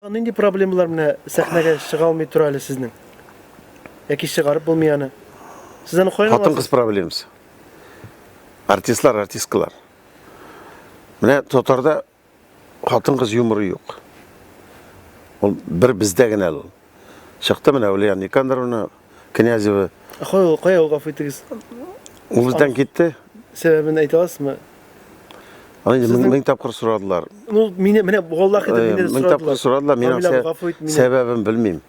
Нинди проблемалар менә сәхнәгә чыга алмый тора әле сезнең? Яки чыгарып булмый аны? Сез аны каян Хатын кыз проблемасы. Артистлар, артисткалар. Менә татарда хатын кыз юморы юк. Ул бер бездә генә ул. чыкты менә Ульяна Никандровна Князева. Кая ул, кая ул, гафу итегез. Ул бездән китте. Сәбәбен әйтә аласызмы? Аны инде мең тапкыр сорадылар. Ну, мине менә Аллаһ итеп мине сорадылар. Мең тапкыр сорадылар, мин аның сәбәбен белмим.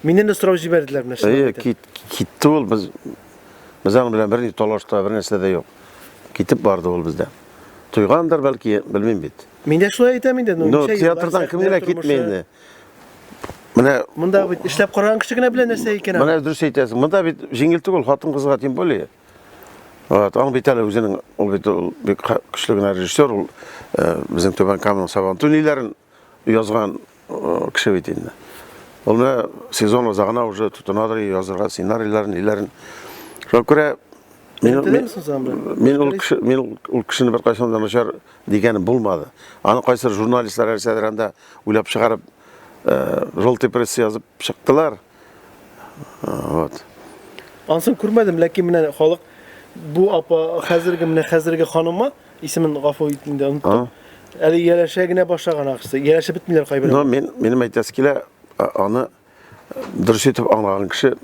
Миннән дә сорау җибәрделәр менә шулай. Әйе, кит, китте ул без без аның белән берни талаш та, бер нәрсә дә юк. Китеп барды ул бездә. Туйгандыр бәлки, белмим бит. Мин дә шулай әйтәм инде, ну, ну театрдан кем генә китми инде. Менә монда бит эшләп караган кеше генә белә нәрсә икән. Менә дөрес әйтәсең. Монда бит җиңел түгел хатын-кызга тем более. Вот, аның бит әле үзенең ул бит ул бик көчле генә режиссер ул э, безнең Түбән Каманың Сабантуй ниләрен язган э, кеше бит инде. Ул менә сезон узагына уже тотынадыр язырга сценарийларын, ниләрен. Шуңа күрә мин мин ул кеше мин ул кешене беркайчан да начар дигәнем булмады. Аны кайсыр журналистлар әлсәдер анда уйлап чыгарып, желтый пресс язып чыктылар. Вот. Ансын күрмәдем, ләкин менә халык бу апа хәзерге менә хәзерге ханымы исемен гафу ит инде оныттым. Әле ияләшә генә башлаган ахсы. Ияләшә бетмиләр кайбер. Но мин минем әйтәсе килә, аны Дөрес итеп аңлаган кеше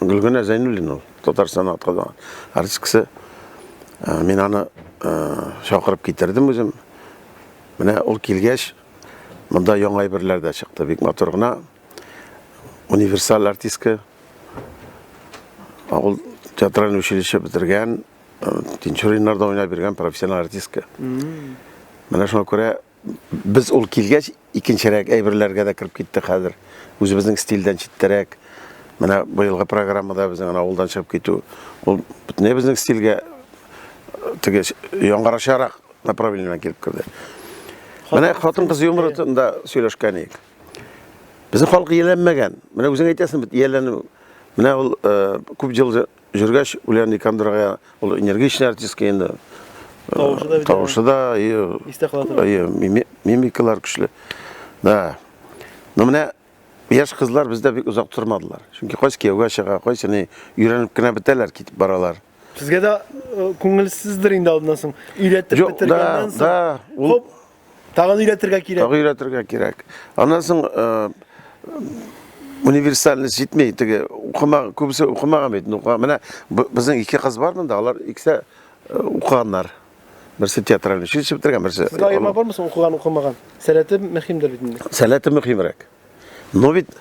Гөлгенә Зәйнуллин ул, Татарстан атказан артисткасы. Э, мин аны э, чакырып китердем үзем. Менә ул килгәч, монда яңа әйберләр дә чыкты. Бик матур гына универсаль артистка. Ул театральный училище бетергән, э, Тинчуриннарда уйнап биргән профессиональ артистка. Менә шуңа күрә Без ул килгәч, икенчерәк әйберләргә дә кереп китте хәзер. Үзебезнең стильдән читтәрәк. Менә быелгы программада безнең авылдан чыгып китү. Ул бөтенләй безнең стильгә теге яңгырашарак направлениедән килеп керде. Менә хатын-кыз юморында сөйләшкән идек. Безнең халык ияләнмәгән. Менә үзең әйтәсең бит, ияләнү. Менә ул күп ел Җөргәч үлән Никандрга ул энергичный артистка инде. Тавышы да бит. Тавышы да и истә кала торган. И мимикалар көчле. Да. Ну менә яшь кызлар бездә бик озак тормадылар. Чөнки кайсы кияүгә чыга, кайсы ни өйрәнеп кенә бетәләр, китеп баралар. Сезгә дә э, күңелсездер инде алдыннан соң. Өйрәтеп бетергәннән соң. Да, да. Ул Тагын өйрәтергә кирәк. Тагын өйрәтергә кирәк. Аннан соң э, универсальность җитми. Теге укыма, күбесе укымаган бит. Менә безнең ике кыз бар монда, алар икесе э, укыганнар. Берсе театральный училище бетергән, берсе. Сезгә аерма бармы соң укыган, укымаган? Сәләте мөһимдер бит инде. Сәләте мөһимрәк. Но бит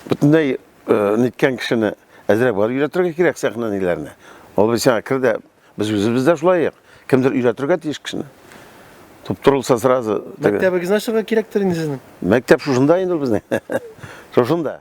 бөтенләй э, ниткән кешене әзрәк бар өйрәтергә кирәк сәхнәниләрне. Ул бит сиңа кер дә Без үзебез дә шулай як. Кемдер өйрәтергә тиеш кешене. Туп турылса сразу. Мәктәбегезне ачырга кирәктер инде сезнең. Мәктәп шушында инде ул безнең. Шушында.